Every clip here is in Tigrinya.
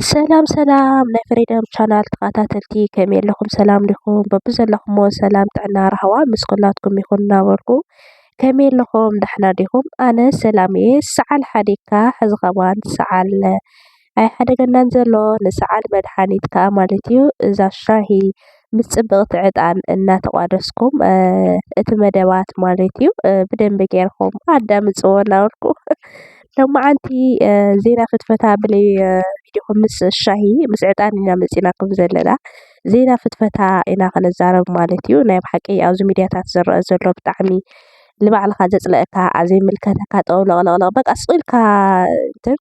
ሰላም ሰላም ናይ ፍሪደም ቻናል ተኸታተልቲ ከመይ ኣለኹም ሰላም ዲኹም? በብዘለኹምዎ ሰላም ጥዕና ራህዋ ምስ ኩላትኩም ይኹን እናበልኩ ከመይ ኣለኹም ደሕና ዲኹም? ኣነ ሰላም እየ ሰዓል ሓዲግካ ሕዚ ከማን ሰዓል ኣይሓደገናን ዘሎ ንሰዓል መድሓኒት ከኣ ማለት እዩ እዛ ሻሂ ምስ ፅብቅቲ ዕጣን እናተቋደስኩም እቲ መደባት ማለት እዩ ብደንቢ ጌርኩም ኣዳምፅዎ እናበልኩ ሎማዓንቲ ዜና ፍትፈታ ብለይ ቪድዮኹም ምስ ሻሂ ምስ ዕጣን ኢና መፂናኩም ዘለና ዜና ፍትፈታ ኢና ክንዛረብ ማለት እዩ ናይ ብሓቂ ኣብዚ ሚድያታት ዝረኣ ዘሎ ብጣዕሚ ንባዕልኻ ዘፅለኣካ ዘይምልከተካ ጠውለቕለቕለቕ በቃ ስቕ ኢልካ እንትን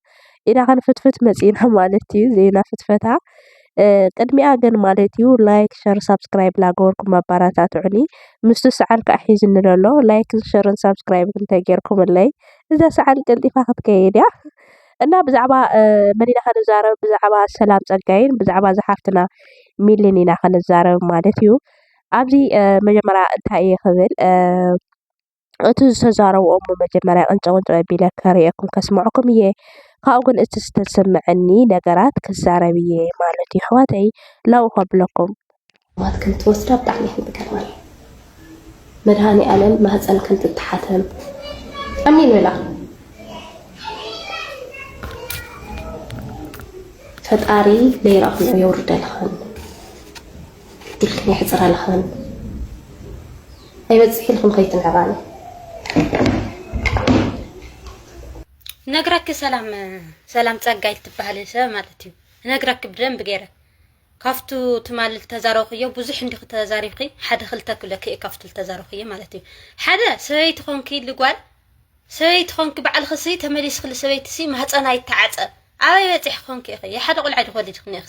ኢዳ ክንፍትፍት መፂእና ማለት እዩ ዜና ፍትፈታ ቅድሚኣ ግን ማለት እዩ ላይክ ሸር ሳብስክራይብ ላገበርኩም ኣባራታትዑኒ ምስቲ ሰዓል ከዓ ሒዝኒ ለሎ ላይክን ሸርን ሳብስክራይብን እንተጌርኩምለይ እዛ ሰዓል ቀልጢፋ ክትከይድ እያ እና ብዛዕባ መን ኢና ክንዛረብ ብዛዕባ ሰላም ፀጋይን ብዛዕባ እዛ ሓፍትና ሚልን ኢና ክንዛረብ ማለት እዩ ኣብዚ መጀመርያ እንታይ እየ ክብል እቲ ዝተዛረብኦ እሞ መጀመርያ ቅንጭብ ቅንጭብ ኣቢለ ከርእየኩም ከስምዐኩም እየ። ካብኡ ግን እቲ ዝተሰመዐኒ ነገራት ክዛረብ እየ ማለት እዩ። ኣሕዋተይ ላው ከብለኩም። ኣሕዋት ከምትወስዳ ብጣዕሚ እየን ዝገርማኒ። መድሃኒኣለም ማህፀን ከምትታሓተም ኣሜን በላ። ፈጣሪ ለይራ ኹሉ የውርደልኽን። ኢልክን የሕጽር ኣለኻኒ ኣይበጽሕ ኢልክን ከይትንዕቃኒ ነግራኪ ሰላም ሰላም ጸጋይ ትበሃል ሰብ ማለት እዩ ነግራኪ ብደንብ ገይረ ካብቱ ትማል ዝተዛረብክዮ ብዙሕ እንዲኺ ተዛሪብኪ ሓደ ክልተ ክብለኪ እየ ካብቱ ዝተዛረብክዮ ማለት እዩ ሓደ ሰበይቲ ኮንኪ ልጓል ሰበይቲ ኮንኪ ባዕልኺ ሲ ተመሊስክሊ ሰበይቲ ሲ ማህፀና ይተዓፀ ኣበይ በፂሕ ኮንኪ ኢኺ ሓደ ቆልዓ ዶ ወሊድክኒ ኢኺ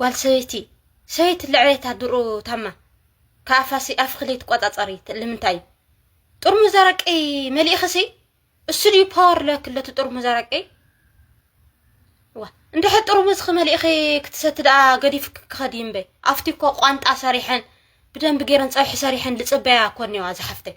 ጓል ሰበይቲ ሰበይቲ ልዕሌታ ድሩ ታማ ከኣፋሲ ኣፍክሊ ትቆጻጸሪ ልምንታይ እዩ ጥርሙዝ ኣረቂ መሊእኽሲ እሱ ድዩ ፓወር ለክለቱ ጥርሙዝ ኣረቂ ዋ እንድሕር ጥርሙዝ ክመሊእኺ ክትሰቲ ደኣ ገዲፍ ክኸዲ እምበይ ኣብቲ እኮ ቋንጣ ሰሪሐን ብደንብ ገይረን ፀብሒ ሰሪሐን ልፅበያ እኮ እኒዋ ዝሓፍተይ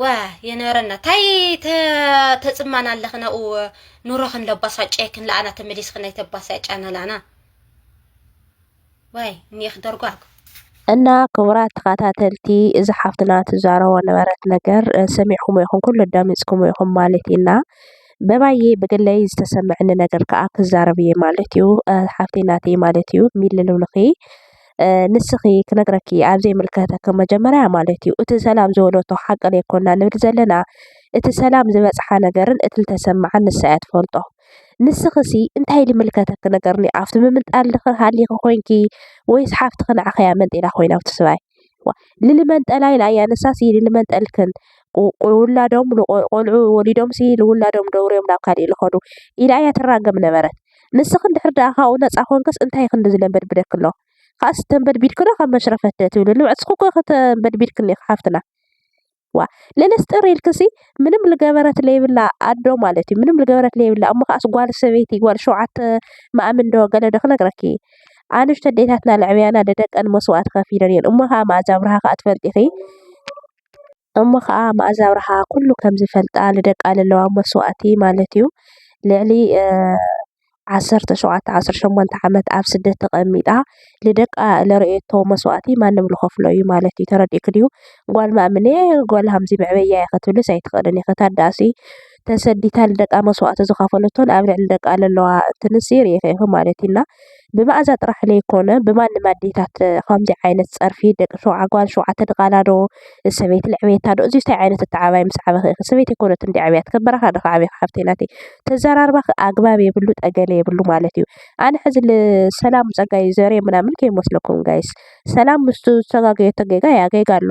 ዋ የነረና ታይ ተፅማና ኣለኽን ኣብኡ ኑሮኽን ለባሳጨየክን ለኣና ተመሊስኽን ናይ ተባሳጫና ለኣና ዋይ እኒኤኽ ደርጓግ እና ክቡራት ተኸታተልቲ እዚ ሓፍትና ትዛረቦ ነበረት ነገር ሰሚዕኩሞ ይኹን ኩሉ ኣዳሚፅኩሞ ይኹን ማለት ኢና በባየ ብግለይ ዝተሰመዐኒ ነገር ከዓ ክዛረብ እየ ማለት እዩ ሓፍተይ ናተይ ማለት እዩ ሚልልውልኺ ንስኪ ክነግረኪ ኣብ ዘይምልከተኪ መጀመርያ ማለት እዩ እቲ ሰላም ዝበለቶ ሓቂ ዘይኮና ንብል ዘለና እቲ ሰላም ዝበፅሓ ነገርን እቲ ዝተሰመዓ ንሳ እያ ትፈልጦ። ንስኪ ሲ እንታይ ልምልከተኪ ነገር እኒኦ ኣብቲ ምምንጣል ድኪ ሃሊኪ ኮይንኪ ወይስ ሓፍትኪ ንዓኪ እያ መንጢላ ኮይና ኣብቲ ሰብኣይ ዋእ ልልመንጠላ ኢላ እያ ንሳ ሲ ልልመንጠልክን ውላዶም ቆልዑ ወሊዶም ሲ ንውላዶም ደውርዮም ናብ ካሊእ ልከዱ ኢላ እያ ትራገም ነበረት። ንስኺ እንድሕር ደኣ ካብኡ ነጻ ኰንክስ እንታይ ክንድዚ ለምበድብደኪ ኣሎ ኻስ ተምበድቢድኪ ዶ ካብ መሽረፈት ትብሊ ንብዕትኪ እኮ ተምበድቢድክኒ ኢኺ ሓፍትና ዋ ለለስጥር ኢልክሲ ምንም ልገበረት ለይብላ ኣዶ ማለት እዩ ምንም ልገበረት ለይብላ እሞ ከዓስ ጓል ሰበይቲ ጓል ሸውዓተ ማእምን ዶ ገለ ዶ ክነግረኪ ኣንሽተ ኣዴታትና ለዕብያና ደደቀን መስዋእቲ ከፊለን እየን እሞ ከዓ መኣዛ ኣብርሃ ከዓ ትፈልጢ ኢኺ እሞ ኸኣ መኣዛ ኣብርሃ ኩሉ ከም ዝፈልጣ ንደቃ ለለዋ መስዋእቲ ማለት እዩ ልዕሊ ዓሰርተ ሸውዓተ ዓሰርተ ሸሞንተ ዓመት ኣብ ስደት ተቐሚጣ ንደቃ ለርእየቶ መስዋእቲ ማንም ልኸፍሎ እዩ ማለት እዩ ተረዲእኪ ድዩ? ጓል ማእምነ ጓል ሃምዚ መዕበያ እየ ክትብልስ ኣይትኽእልን ኢኺ ተኣዳሲ ተሰዲታ ንደቃ መስዋእቲ ዝኸፈለቶን ኣብ ልዕሊ ደቃ ለለዋ ትንሲ ሪኢኺ ኢኺ ማለት እዩ እና ብመኣዛ ጥራሕ ለይኮነ ብማንም ኣዴታት ኸምዚ ዓይነት ፀርፊ ደቂ ሸውዓ ጓል ሸውዓተ ድቓላ ዶ ሰበይቲ ለዕበየታ ዶ እዙይ ታይ ዓይነት ኣተዓባብያ ምስ ዓበኺ ኢኺ ሰበይቲ ኣይኮነትን ድያ ዓብያት ከብ በረኻ ድኺ ዓብኺ ሓፍተይ ናተይ ተዘራርባኺ ኣግባብ የብሉ ጠገለ የብሉ ማለት እዩ ኣነ ሕዚ ሰላም ፀጋይ ዘርየ ምናምን ከይመስለኩም ጋይስ ሰላም ምስቱ ዝተጋገየቶ ጌጋ እያ ጌጋ ኣሎ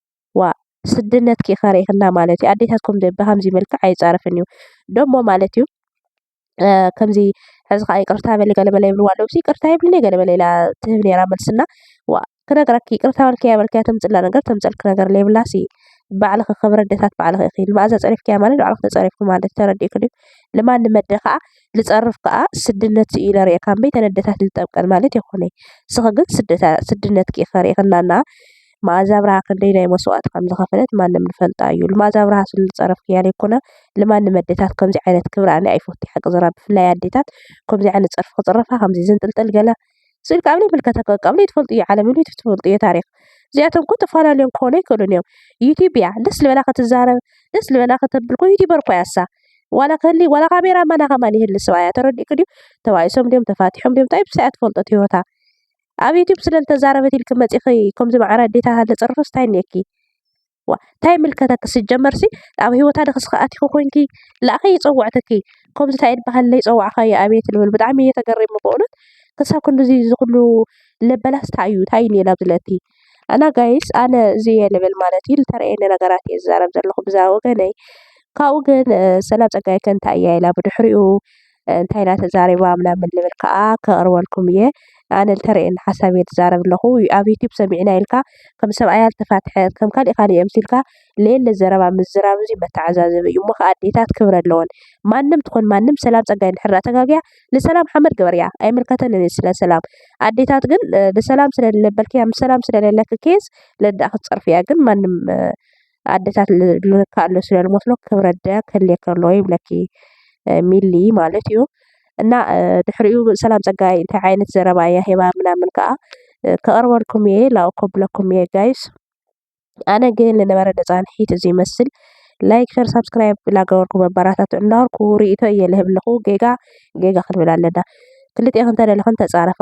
ዋእ ስድነትኪ ከሪክና ማለት እዩ ኣዴታት ብከምዚ መልክዕ ኣይፃረፍን እዩ ደሞ ማለት እዩ ከምዚ ሐዚ ከዓ ይቅርታ በሊ ገለ መለ ይብልዋ ኣለዉ ይቅርታ የብልንየ ገለ መለ ኢላ ትህብ ነይራ መልሲ እና ዋእ ክነግረኪ ይቅርታ በልክያ በልክያ ተምፅእላ ነገር ተምፀልኪ ነገር ለይብላሲ ባዕልኪ ክብሪ ኣዴታት ባዕልኪ ኢኪ ንመኣዛ ፀሪፍክያ ማለት ንባዕልኪ ተፀሪፍኪ ማለት እዩ ተረዲእኪ ድዩ ንማንም ኣደ ከዓ ዝፀርፍ ከዓ ስድነት እዩ ኢለ ሪኤ ካብ መይተን ኣዴታት ንጠብቀን ማለት የኮነይ ንስኪ ግን ስድነትኪ ኢኪ ከሪክና እና መኣዛ ኣብርሃ ክንደየናይ መስዋእቲ ከም ዝኸፈለት ማንም ዝፈልጣ እዩ። ልማዛ ኣብርሃ ስለዝጸረፍክያ ዘይኮነ ልማንም ኣዴታት ከምዚ ዓይነት ክብሪ ኣነ ኣይፈቱ ሓቂ ዝራ ብፍላይ ኣዴታት ከምዚ ዓይነት ጸርፊ ክጽረፋ ከምዚ ዝንጥልጥል ገለ ስኢል ካብ ዘይምልከተ ካብ ዘይትፈልጡ እዩ ዓለም እዩ ትፈልጡ እዩ ታሪኽ እዚኣቶም ኮ ተፋላልዮም ክኾኑ ኣይክእሉን እዮም ዩቲብ እያ ደስ ዝበላ ክትዛረብ ደስ ዝበላ ከተብል ኮ ዩቲበር እኮ እያ እሳ ዋላ ከሊ ዋላ ካሜራ ማና ከማን ይህሊ ሰብኣያ ተረዲእኪ ድዩ ተባኢሶም ድዮም ተፋቲሖም ድዮም እንታይ ብሳያ ትፈልጦ እቲ ሂወታ ኣብ ዩቱብ ስለ ዝተዛረበት ኢልኪ መፂኪ ከምዚ ማዕረ ኣዴታት ኣለፅርክስ ታይ እኒኤኪ ዋእ ታይ ይምልከተኪ ስጀመር ሲ ኣብ ሂወታ ድኪ እስኪ ኣቲኪ ኮይንኪ ላኣኪ ይፀወዕትኪ ከምዚ ታይ ይብሃል ለይፀዋዕካዮ ኣቤት ልብል ብጣዕሚ እየ ተገሪመ በእውነት ክሳብ ክንድዚ ዝኩሉ ለበላስ ታይ እዩ ታይ እኒኤ ናብዚ ልእቲ እና ጋይስ ኣነ እዚ እየ ልብል ማለት እዩ ዝተረኣየኒ ነገራት እየ ዝዛረብ ዘለኩ ብዛኣ ወገነይ ካብኡ ግን ሰላም ፀጋ ይብዘሐልኪ እንታይ እያ ኢላ ብድሕሪኡ እንታይ ኢላ ተዛሪባ ምናምን ልብል ካኣ ከቅርበልኩም እየ። ኣነ ዝተረኣየኒ ሓሳብ እየ ዝዛረብ ዘለኩ ኣብ ዩቱብ ሰሚዕና ኢልካ ከም ሰብኣያ ዝተፋትሐ ከም ካሊእ ካሊእ ኣምሲልካ ዘየለ ዘረባ ምዝራብ እዚ መተዓዛዘቢ እዩ። እሞ ካኣ ኣዴታት ክብሪ ኣለወን ማንም ትኩን ማንም ሰላም ፀጋ እንድሕር ዳኣ ተጋግያ ንሰላም ሓመድ ግበርያ ኣይምልከተንን እዩ ስለ ሰላም ኣዴታት ግን ንሰላም ስለዝለበልክያ ምስ ሰላም ስለለለኪ ኬስ ለዳኣ ክትፀርፍያ ግን ማንም ኣደታት ልክኣ ኣሎ ስለ ልመስሎ ክብረደ ክህልወኪ ኣለዎ ይብለኪ ሚሊ ማለት እዩ። እና ድሕሪኡ ሰላም ፀጋይ እንታይ ዓይነት ዘረባ እያ ሂባ ምናምን ከዓ ከቕርበልኩም እየ ላእኽ ከብለኩም እየ ጋይስ። ኣነ ግን ልነበረ ተፃንሒት እዚ ይመስል ላይክ ሸር ሳብስክራይብ ላገበርኩም ኣበራታትዑ እንዳበልኩ ሪኢቶ እየ ልህብ ኣለኹ ጌጋ ጌጋ ክንብል ኣለና ክልቴክን ተደለኽን ተፃረፋ።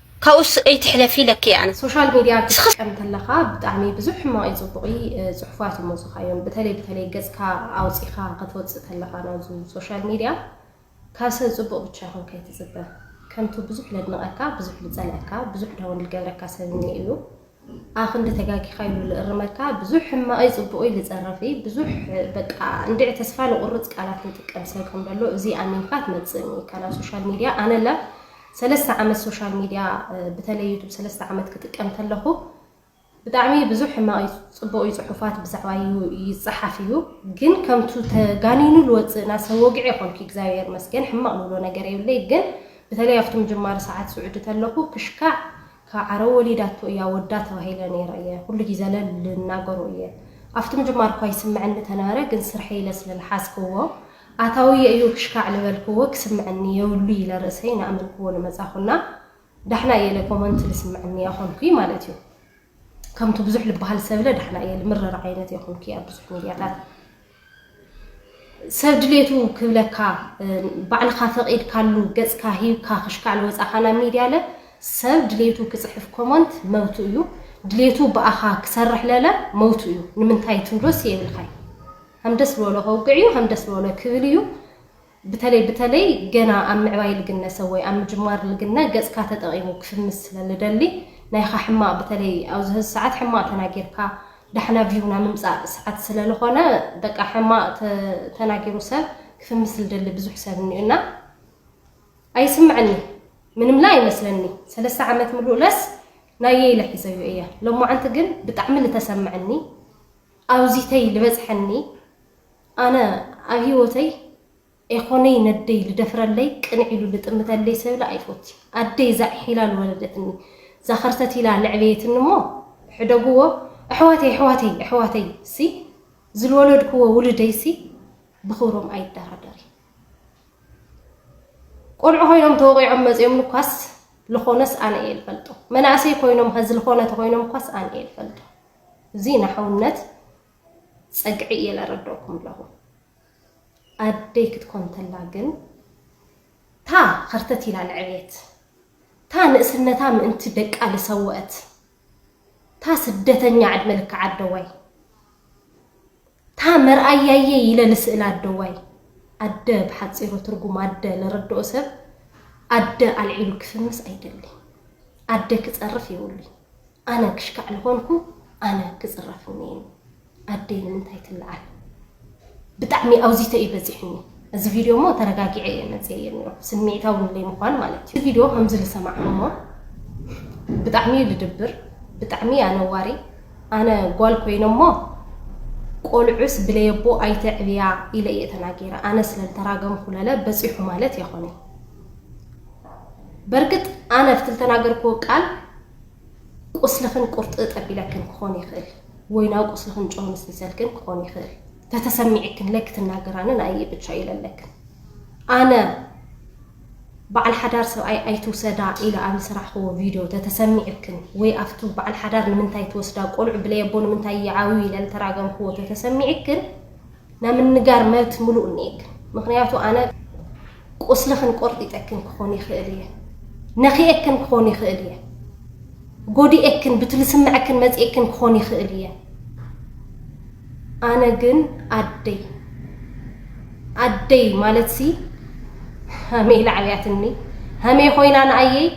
ካብኡስ ኣይትሕለፊ ኢለኪ እየ ኣነ። ሶሻል ሚድያ ክትጥቀም ተለኻ ብጣዕሚ ብዙሕ ሕማቕይ ጽቡቕይ ጽሑፋት ይመጹኻ እዮም ብተለይ ብተለይ ገጽካ ኣውጺኻ ከትወጽእ ተለኻ ናብዙ ሶሻል ሚድያ ካብ ሰብ ጽቡቕ ብቻ ይኹን ከይትጽበ ከምቱ ብዙሕ ለድንቐካ ብዙሕ ልጸልኣካ ብዙሕ ዳውን ልገብረካ ሰብ እኒኤ እዩ ኣክንዲ ተጋጊካ ኢሉ ልእርመካ ብዙሕ ሕማቅይ ጽቡቅይ ልጸረፍይ ብዙሕ በቃ እንድዒ ተስፋ ልቁርጽ ቃላት ልጥቀም ሰብ ከም ደሎ እዚ ኣሚንካ ትመጽእኒ ኢካ ናብ ሶሻል ሚድያ ኣነ ለ ሰለስተ ዓመት ሶሻል ሚድያ ብተለይ ዩቱብ ሰለስተ ዓመት ክጥቀም ተለኩ ብጣዕሚ ብዙሕ ሕማቅይ ጽቡቅይ ጽሑፋት ብዛዕባ ይጽሓፍ እዩ ግን ከምቱ ተጋኒኑ ልወጽእ ናሰብ ወግዒ የኮንኩ እግዚኣብሔር መስገን ሕማቅ ልብሎ ነገር የብለይ ግን ብተለይ ኣብቲ ምጅማር ሰዓት ስዑዲ ተለኩ ክሽካዕ ካብ ዓረብ ወሊዳቶ እያ ወዳ ተባሂለ ነይረ እየ ኩሉ ጊዘ ልልናገሮ እየ ኣፍቲ ምጅማር እኳ ይስመዐኒ ተነበረ ግን ስርሐይ ኢለ ስለ ልሓዝክዎ ኣታውየ እዩ ክሽካዕ ልበልክዎ ክስመዐኒ የብሉ ኢለ ርእሰይ ናኣመንክዎ ልመፃኹ እና ዳሕና እየ ለኮመንት ልስመዐኒ ኣኾንኩይ ማለት እዩ ከምቱ ብዙሕ ልባሃል ሰብለ ዳሕና እየ ልምረር ዓይነት የኹንኩይ ኣብ ብዙሕ ሚድያታት ሰብ ድሌቱ ክብለካ ባዕልኻ ፈቂድካሉ ገጽካ ሂብካ ክሽካዕ ልወጻኻ ናብ ሚድያ ለ ሰብ ድሌቱ ክጽሕፍ ኮሞንት መብቱ እዩ ድሌቱ ብኣኻ ክሰርሕ ለለ መብቱ እዩ ንምንታይ ትብሎስ የብልካይ ሃም ደስ ልበሎ ከውግዕ እዩ ሃም ደስ ልበሎ ክብል እዩ ብተለይ ብተለይ ገና ኣብ ምዕባይ ልግነ ሰብ ወይ ኣብ ምጅማር ልግነ ገጽካ ተጠቂሙ ክፍምስ ስለ ልደሊ ናይኻ ሕማቅ ብተለይ ኣብዚ ሀዚ ሰዓት ሕማቅ ተናጊርካ ዳሕና ቪው ናይ ምምጻእ ሰዓት ስለ ልኾነ በቃ ሕማቅ ተናጊሩ ሰብ ክፍምስ ልደሊ ብዙሕ ሰብ እኒኡ እና ኣይስምዐኒ ምንምለ ኣይመስለኒ ሰለስተ ዓመት ምሉእ ለስ ናየይ ኢለ ሒዘዩ እየ ሎማዓንቲ ግን ብጣዕሚ ልተሰምዐኒ ኣውዚተይ ልበጽሐኒ ኣነ ኣብ ሂወተይ ኤኾነይ ነደይ ልደፍረለይ ቅንዕ ኢሉ ልጥምተለይ ሰብለ ኣይፎቲ ኣደይ ዛዕሒላ ልወለደትኒ ዛኸርተት ኢላ ለዕበየትኒ እሞ ሕደግዎ ኣሕዋተይ ኣሕዋተይ ኣሕዋተይ ሲ ዝልወለድክዎ ውልደይ ሲ ብኽብሮም ኣይደራደሪ ቆልዑ ኮይኖም ተወቂዖም መፂኦም እኳስ ልኾነስ ኣነ እየ ልፈልጦ መናእሰይ ኮይኖም ኸዚ ልኾነ ተኾይኖም እኳስ ኣነ እየ ልፈልጦ እዚ ናሕውነት ጸግዒ እየ ለረደኩም ለኹ ኣደይ ክትኮን ተላ ግን እታ ኸርተት ኢላ ለዐቤት እታ ንእስነታ ምእንቲ ደቃ ልሰወእት እታ ስደተኛ ዕድመ ልክዕ ኣደዋይ እታ መርኣያየይ ኢለ ልስእላ ኣደዋይ ኣደ ብሓጺሩ ትርጉም ኣደ ለረድኦ ሰብ ኣደ ኣልዒሉ ክፍምስ ኣይደሊ ኣደ ክጸርፍ የብሉይ ኣነ ክሽካዕ ልኾንኩ ኣነ ክጽረፍኒ እዩ ኣደይ ንምንታይ ትልዓል ብጣዕሚ ኣውዚተ እዩ በዚሕኒ እዚ ቪድዮ እሞ ተረጋጊዐ እየ መጽየ እየ ነይሩ ስምዒታዊ ንለይ ምዃን ማለት እዩ ቪድዮ ከምዚ ዝሰማዕኩሞ ብጣዕሚ እዩ ልድብር ብጣዕሚ እዩ ኣነዋሪ ኣነ ጓል ኮይነ እሞ ቆልዑስ ብለየቦ ኣይተዕብያ ኢለ እየ ተናጊረ ኣነ ስለ ልተራገምኩ ለለ በጺሑ ማለት የኾነይ በርግጥ ኣነ ፍቲ ልተናገርኩዎ ቃል ቁስልኽን ቁርጥእ ጠቢለክን ክኾን ይኽእል ወይ ናብ ቁስልኽን ጨው ንስኒሰልክን ክኾን ይኽእል ተተሰሚዕክን ለክ ትናገራንን ኣየ ብቻ ይለለክን ኣነ በዓል ሓዳር ሰብኣይ ኣይትውሰዳ ኢለ ኣብ ዝሰራሕክዎ ቪድዮ ተተሰሚዕክን ወይ ኣብቱ በዓል ሓዳር ንምንታይ ትወስዳ ቆልዑ ብለየቦ ንምንታይ ይዓብዩ ኢለ ዝተራገምክዎ ተተሰሚዕክን ናይ ምንጋር መብት ምሉእ እኒኤክን ምክንያቱ ኣነ ቁስልክን ቆርጢጠክን ክኮን ይክእል እየ ነኪኤክን ክኮን ይክእል እየ ጎዲኤክን ብቲ ልስመዐክን መፂኤክን ክኮን ይክእል እየ ኣነ ግን ኣደይ ኣደይ ማለትሲ ሃሜ ኢላ ዓብያትኒ ሃሜ ኮይና ንኣየይ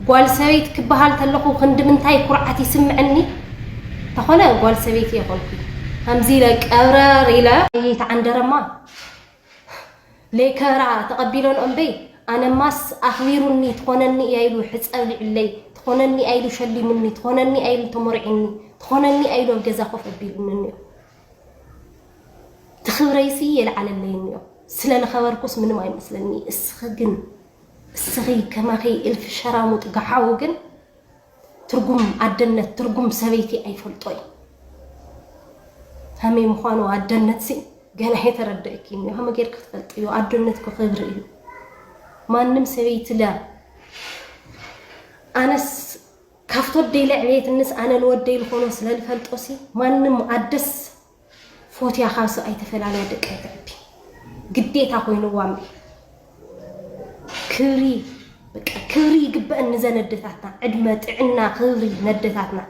ጓል ሰበይት ክበሃል ተለኹ ክንድምንታይ ኩርዓት ይስምዐኒ ተኾነ ጓል ሰበይቲ የኾንኩ ሃምዚ ኢለ ቀብረር ኢለ ኣየይ ተዓንደረማ ለይከራ ተቐቢሎን እምበይ ኣነማስ ኣኽቢሩኒ ትኾነኒ እያ ኢሉ ሕፀብሊዑለይ ትኾነኒ ኣይሉ ሸሊሙኒ ትኾነኒ ኣይሉ ተሞርዒኒ ትኾነኒ ኣይሉ ኣብ ገዛ ኮፍ ኣቢሉኒ እኒኦ እቲ ክብረይሲ የልዓለለይ እንዮ ስለ ልኸበርኩስ ምንም ኣይመስለኒ እስኺ ግን እስኺ ከማኺ እልፊ ሸራሙጥ ጋሓው ግን ትርጉም ኣደነት ትርጉም ሰበይቲ ኣይፈልጦ እዩ ከመይ ምዃኑ ኣደነትሲ ገና የተረደእኪ እንዮ ከመ ጌርኪ ክትፈልጥ እዩ ኣደነት ክኽብሪ እዩ ማንም ሰበይቲ ለ ኣነስ ካብቲ ወደይ ለዕብየትንስ ኣነ ንወደይ ልኾኖ ስለ ልፈልጦሲ ማንም ኣደስ ፎትያ ካብሰብ ኣይተፈላልያ ደቂ ኣይተዕቢ ግዴታ ኮይንዋ እምበይ ክብሪ በቃ ክብሪ ይግበእን ንዘን ኣደታትና ዕድመ ጥዕና ክብሪ ነደታትና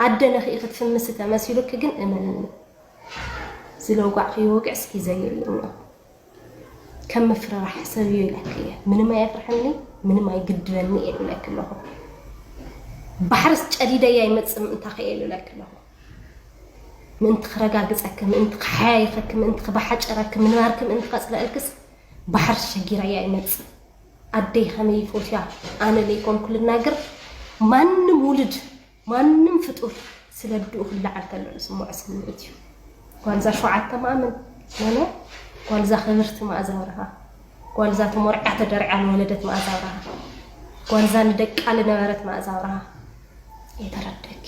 ኣደ ነኽኢ ክትፍምሲ ተመሲሉኪ ግን እመንኒ ዝለጓዕክዮ ወግዕስ ሒዘዮ እየ እኒኦ ከም ምፍርራሕ ሰብ እዩ ኢለኪ እየ ምንም ኣየፍርሐኒ ምንም ኣይግድበኒ እየ ኢለኪ ኣለኹ ባሕርስ ጨዲደያ ይመፅእ ምእንታ ክየ ኢለኪ ኣለኹ ምእንቲ ክረጋግፀኪ ምእንቲ ክሓያይኸኪ ምእንቲ ክባሓጨረኪ ምንባርኪ ምእንቲ ከፅለአልክስ ባሕርስ ሸጊራያ ይመፅእ ኣደይ ከመይ ይፎትያ ኣነ ለይኮንኩ ልናገር ማንም ውልድ ማንም ፍጡር ስለ ኣዱኡ ክለዓል ከሎ ዝስምዖ ስምዒት እዩ ጓልዛ ሸውዓተ ማእምን ኖኖ ጓልዛ ክብርቲ መኣዛ ኣብርሃ ጓልዛ ተሞርዕያ ተደርዕያ ንወለደት መኣዛ ኣብርሃ ጓልዛ ንደቃ ልነበረት መኣዛ ኣብርሃ የተረደኪ